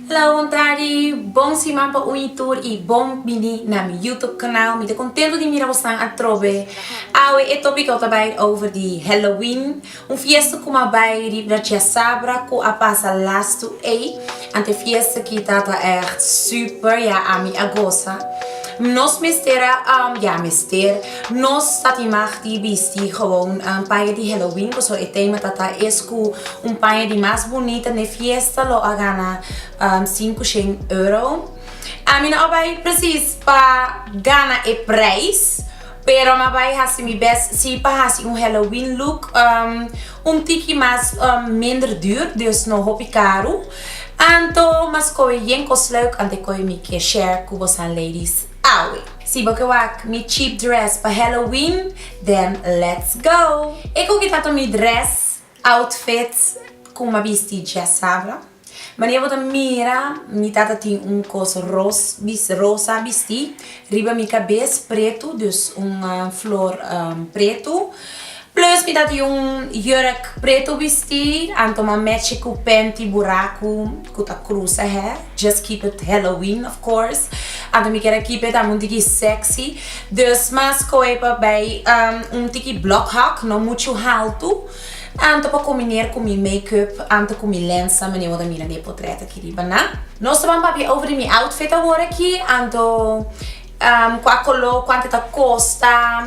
Hello bon tardi, bon siman pa un y tur y bon bini na mi YouTube canal. Mi ta contento di mira bosnan atrobe. Awe e topico ta bay over di Halloween, un fiesta cu m'a bay riba na Chasabra cu a pasa last to ey. Ante fiesta kita ta echt super, ya ami a goza. Nos mester a, ya mester. Nos ta tin mag di bisti gewoon un paña di Halloween, pasobra e tema ta ta es cu un paña di mas bunita n'e fiesta lo a gana sinku shen euro. Mi no a bay precies pa gana e prijs, pero mi a bay haci mi best si pa haci un Halloween look un tiki mas minder duur, dus no hopi caru. Anto mi a scoge yen cos leuk anto e coge mi ke share cu bosan ladies. Awe, si bo ke wak mi cheap dress pa Halloween, den let's go! E koki tantu mi dress, outfit, ku m'a bisti dje sabra. Mania bo ta mira, mi tata tin un kos ros, bis, rosa bistí riba mi kabes, pretu, dus un flor pretu. Plus mi ta tin un jurk preto bisti anto ma mechi ku penti buraku ku ta krusa hè just keep it halloween of course anto mi kere keep it amun tiki sexy dus ma skohe pa bai un tiki blok hak no muchu haltu anto pa kombiner ku mi makeup anto ku mi lensa manera bo ta mira mi e potret aki riba na. No so ban papia over di mi outfit awor aki anto ku a koló kuantu ta kosta.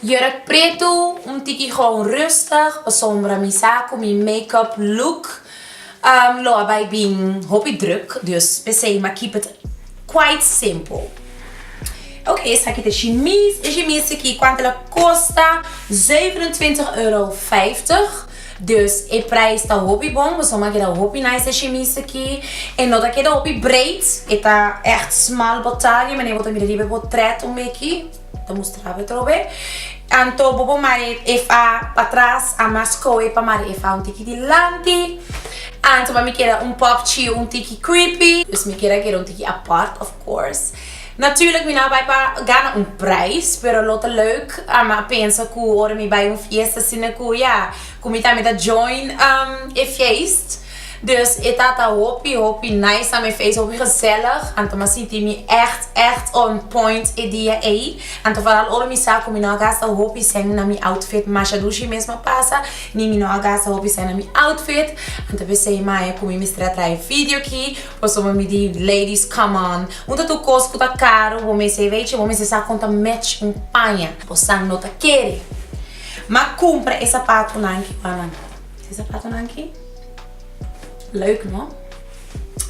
Jurk pretu, un tiki goun rustig, pa sombra mi sa ku mi makeup look lo a bai bin hopi druk, dus p'esei m'a keep it quite simple. Oké, esaki ta e shimis, e shimis aki kuantu el a kosta, zeven en twintig euro vijftig, dus e prijs ta hopi bon, pasobra mi a keda hopi nice e shimis aki, e no ta keda hopi breed, e ta ègt smal, bo talia, mi anea bo ta mira riba e portret un beki. Ta mustrá bo trobe. Anto bo por mari e fa patras, a mas koe pa mari e fa un tiki dilanti. Anto mami keda un pop chiu un tiki creepy. Dus mi keda keda un tiki apart of course. Natuurlijk mi no a bai pa gana un prijs, pero lo ta leuk. A mi a pensa ku ora mi bai un fiesta asina ku ya, ku mi tambe ta join e feest. Dus e tata hopi hopi nice na mi face, hopi gezellig, anto mi a sinti mi ègt ègt on point e dia ei. Anto foral ora mi sa ku mi no a gasta hopi sèn na mi outfit, masha dushi mes mi a pasa, ni mi no a gasta hopi sèn na mi outfit, anto p'esei maya ku mi mester a traha e video aki, pasobra bo mi di ladies come on, un ta tur kos ku ta karu bo mester a wei chi bo mester sa kon ta match un paña. Bo san no ta kere mi a kumpra e sapatunan kibanan. Di zapatonan aki leuk no.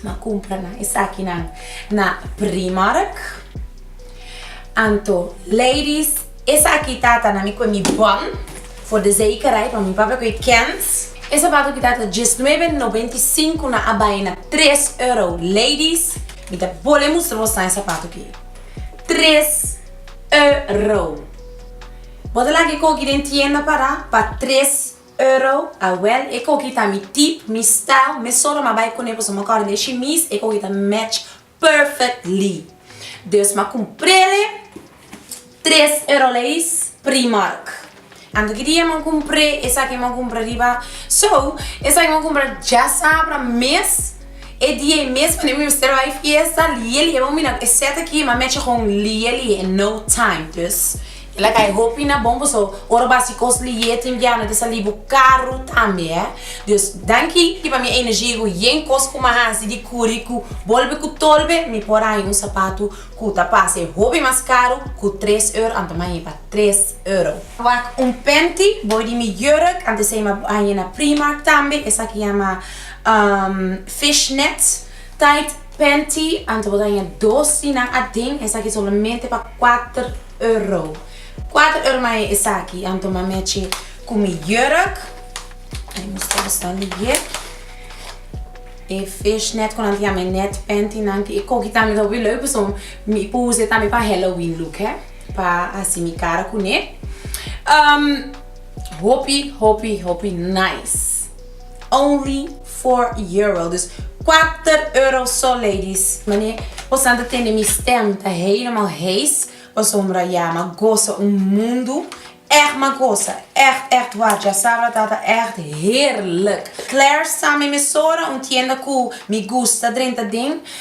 M'a cumpra nan esakinan na Primark. Anto ladies esaki ta ta na mi cu e mi bon for de zekerheid want mi papia cu e kent. E zapato aki ta ta diesnuebe noventa i sinku nan a bay na tres euro. Ladies mi ta bolbe mustra boso nan e zapato aki tres euro. Bo ta laga e cogi den tienda para pa tres. Euro, Awel, e koki ta mi tip, mi style, me solo ma bai kune pasobra ma kòrda di e shimis, e koki ta match perfectly. Dus ma kumprele, tres euro leis, Primark. Anto ki dia ma kumpre esaki ma kumpra riba, so, esaki ma kumpra djasabra mes, e dia ei mes pasobra mi mester bai fiesta, lie lie, bo mira e set aki, ma match gòn lie lie in no time, dus. El a kai hopi na bon paso ora bo a haci cos liyé tin guia no ta sali bo caru tambe eh. Dios danki di pa mi energia y cu yen cos cu m'ha haci di curi cu bolbe cu tolbe mi por a haña un sapatu cu ta parce hopi mas caru cu tres euro ante m'a haña pa tres euro. Wak un panty boy di mi jurk ante esey m'a haña na Primark tambe esaki yama umm fish net tight panty ante bo ta haña dos di nan aden esaki solamente pa cuater euro. Cuater euro mahe esaki a tuma mechi cu mi jurk. Ay mustra busca liye. E fishnet cu nan tin ami net panty nan tin e coki tambe ta hopi leuk pasobra mi por usa tambe pa Halloween look he. Pa haci mi cara cune. Hopi hopi hopi nice. Only four euro dus kuater euro so ladies mane por san ta tende mi stem ta helemaal hees pasobra ya ma gosa un mundu echt ma gosa echt echt waar dja sabra tata echt heerlijk Claire sa mi mesora un tienda ku mi gusta drenta den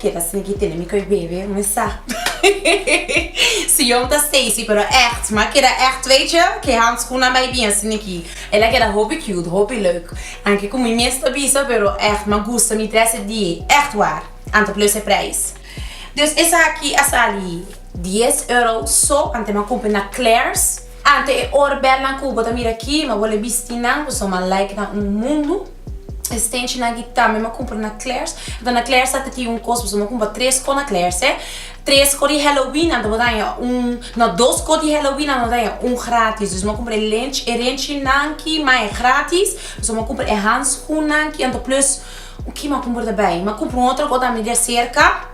Ke ta smeky tene mi koe bebe un esap su yom ta Stacy pero echt ma keda echt weetje ke hanskun nan bai bien sneky el a keda hopi cute hopi leuk anke komo mi mes ta bisa pero echt ma gusta mi tres e die echt war anta plus e prijs dus esaki a sali dies euro so ante ma kumpri na Claire's ante e or bel nan ku bo ta mira aki ma bo le bisti nan ku so ma like nan un mundu. E stenchi na aki tambe m'a cumpra na Claire's. Enton na Claire's ta tin un cos, boso m'a cumpra tres cos na Claire's eh. Tres cos di Halloween anto bo daña un, no, dos cos di Halloween anto bo daña un gratis. Dus m'a cumpra e lenchi, e renchinanki, ma e gratis. Boso m'a cumpra e handschoenanki anto plus, un ki m'a cumpra ta bai? M'a cumpra un otro cos tambe di acerca.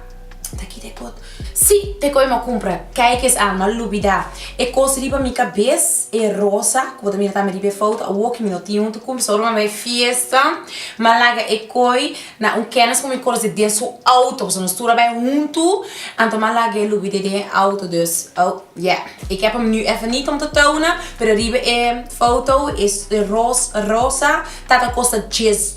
Ta kita e pot. Sí, te koe m'a cumpra. Kijk kes anu, a lubida. E cos riba mi cabes, e rosa, cu bo ta mira tambe riba e foto, awo cu mi no tin un tucum, pasobra bo mi a bay fiesta, m'a laga e koe na un kenis cu mi conoce den su auto, pasobra nos tur a bay huntu, anto m'a lag'e lubid'e den e auto. Dus, oh, ya. Ik heb hem nu even niet om te tonen, pero riba e foto, e rosa, ta ta costa dies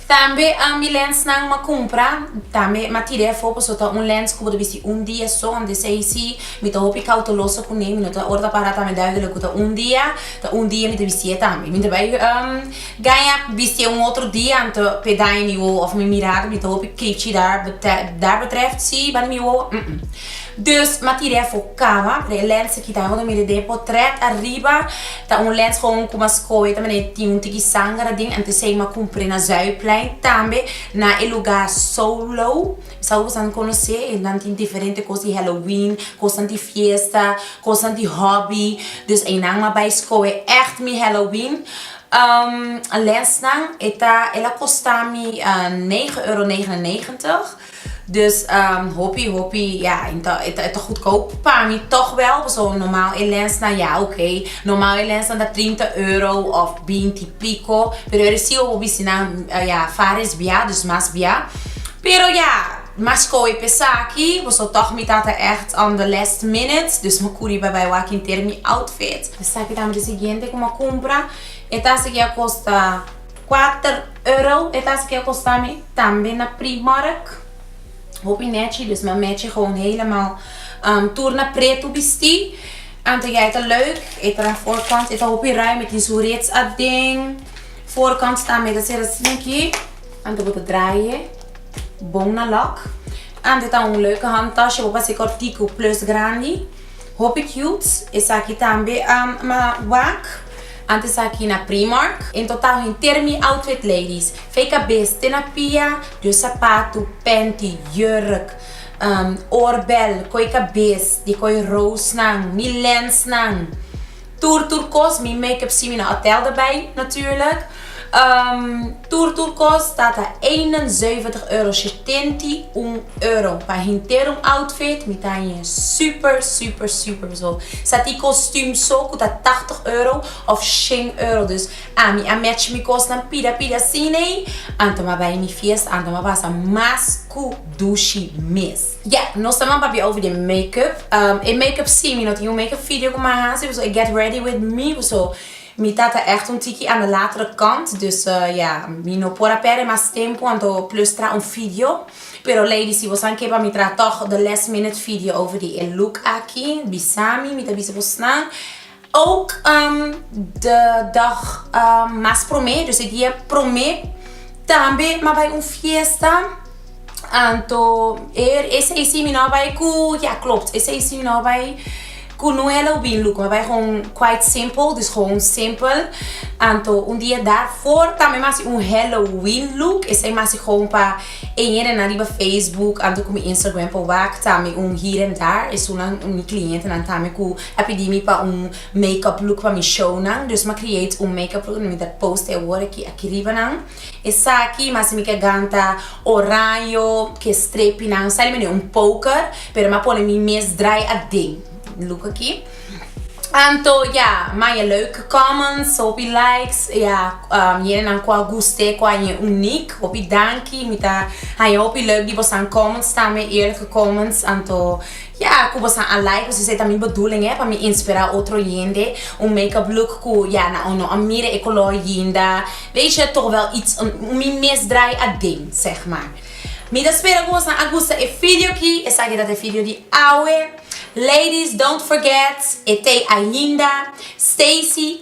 Tambe ambi lensnan m'a cumpra, tambe m'a tira efo paso ta un lens cu bo ta bisti un dia son, di esey si mi ta hopi cauteloso cu n'e, mi no ta ora ta para ta me duivel lo cu ta un dia, ta un dia mi ta bisti e tambe. Mi ta bay gaña bisti e un otro dia anto p'e daña mi wowo of mi mirada, mi ta hopi clechi dar betreft si banda mi wowo? Umm. Dus ma tira e afo kaba, den e lens aki ta hodo mira den e potret ariba ta un lens kon ku mas koe ta manera tin un tiki sangara den ante sei ma kumpre na Zuiderplein tambe na e luga Solo sa ku bosanon konosé nan tin diferente kos di Halloween kosnan di fiesta kosnan di hobby dus einan ma bai skoe ègt mi Halloween lensnan e ta el a kostami negen euro negen en negentig. Dus hopi hopi ya e ta e ta e ta goedkoop pa mi toch wel paso normal e lensnan ya oke normal e lensnan ta trinta euro of binti pico pero e recibo bo bisti nan ya faris bia dus mas bia pero ya mas koe he esaki paso toch mi tata echt on the last minute dus mi kuri pa bai wak hinter mi outfit esaki ta mi di siguiente ku mi a kumpra e ta a sigui a kosta. Kuater euro e ta esaki a kosta mi tambe na Primark hopi nechi dus ma mechi gewoon helemaal tur na pretu bisti anto ya e ta leuk e ta na voorkant e ta hopi ruim e tin su reeds aden voorkant tambe ta ser asi aki anto bo ta draaie bon na lak anto e ta un leuke handtas bo pase kortiku plus grandi. Hopi cute esaki tambe ma wak. Antes esaki na Primark. En total henter mi outfit ladies. Fey cabes te na pia, dios sapatu, panty, jurk, oorbel, coy cabes, di coy rosenan, mi lensnan. Tur tur kos mi makeup si mi no a tel derbij natuurlijk. Tur tur kos ta ta eenenzeventig euro, shetenta i un euro, pa henter un outfit mi ta hanje super super super so. Sa tin kostuum so ku ta tachtig euro of shen euro dus a mi a match mi kosnan pida pida asinei anto mi a bai mi fiesta anto mi a pasa mas ku dushi mes. Ya, nos ta nan papia over di e makeup. E makeup si, mi no tin un makeup video ku mi a hasi, pasobra e get ready with me, so mi ta ta ègt un tiki aan de latere kant, dus ya, mi no por a pèrdè mas tempu anto plus traha un video. Pero lady, si bo sa ke pa mi traha tòg de last minute video over di e look aki, bisa mi, mi ta bisa bo snan. Ook de dag mas promé, dus e dia promé tambe a bai un fiesta. Anto eer e seis i mi no a bai ku, ya klopt, e seis i mi no a bai ku Noelle òf Bin Luko. A bai gewoon quite simple, dus gewoon simpel. Anto un dia daarvoor tambe mi a hasi un Halloween look. Esei mi a hasi gewoon pa e yendenan riba Facebook anto ku mi Instagram. Por wak tambe un here and there. Esun mi clientenan tambe ku. A pidi mi pa un make up look pa mi show nan, dus mi a create un make up look nan mi ta post e awor aki aki riba nan, esaki mas si mi ke ganta oraño ke strepi nan sa limene un poker pero mi a pone mi mes draai aden look aki anto ya maya leuke comments hopi likes ya yende nan ku a guste ku a ñe uniek hopi danki mi ta haña hopi leuk di bosan comments tambe eerlijke comments anto Ya cu bosan a like pues esey ta mi bedoeling eh pa mi inspira otro lhende un make up look cu ya na no a mira e color yinda weetje toch wel iets un mi mes draai aden zeg maar mi ta spera cu bosan a gusta e video aki esaki ta e video di awe ladies don't forget e tey ainda Stacy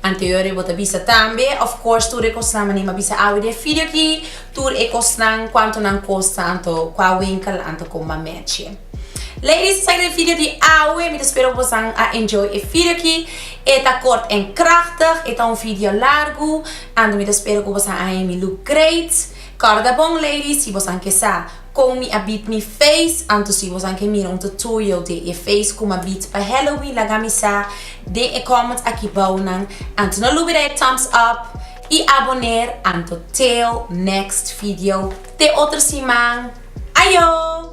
Anterior e bo ta bisa tambe. Of course tur e cosnan mane m'a bisa awe den video aki tur e cosnan cuanto nan costa anto cua winkel anto con m'a merchi. Ladies esaki ta e video di awe mi ta spera cu bosan a enjoy e video aki e ta kort en krachtig e ta un video largu anto mi ta spera cu bosan a himi look great. Corda bon ladies si bosan ke sa. Kon mi a bit mi feys, anto si bosan ke mira un tutorial den e feys ku mi a bit pa Halloween laga mi sa den e comment aki bou nan, anto no lubida e thumbs up i aboner anto till next video te otro siman ayo!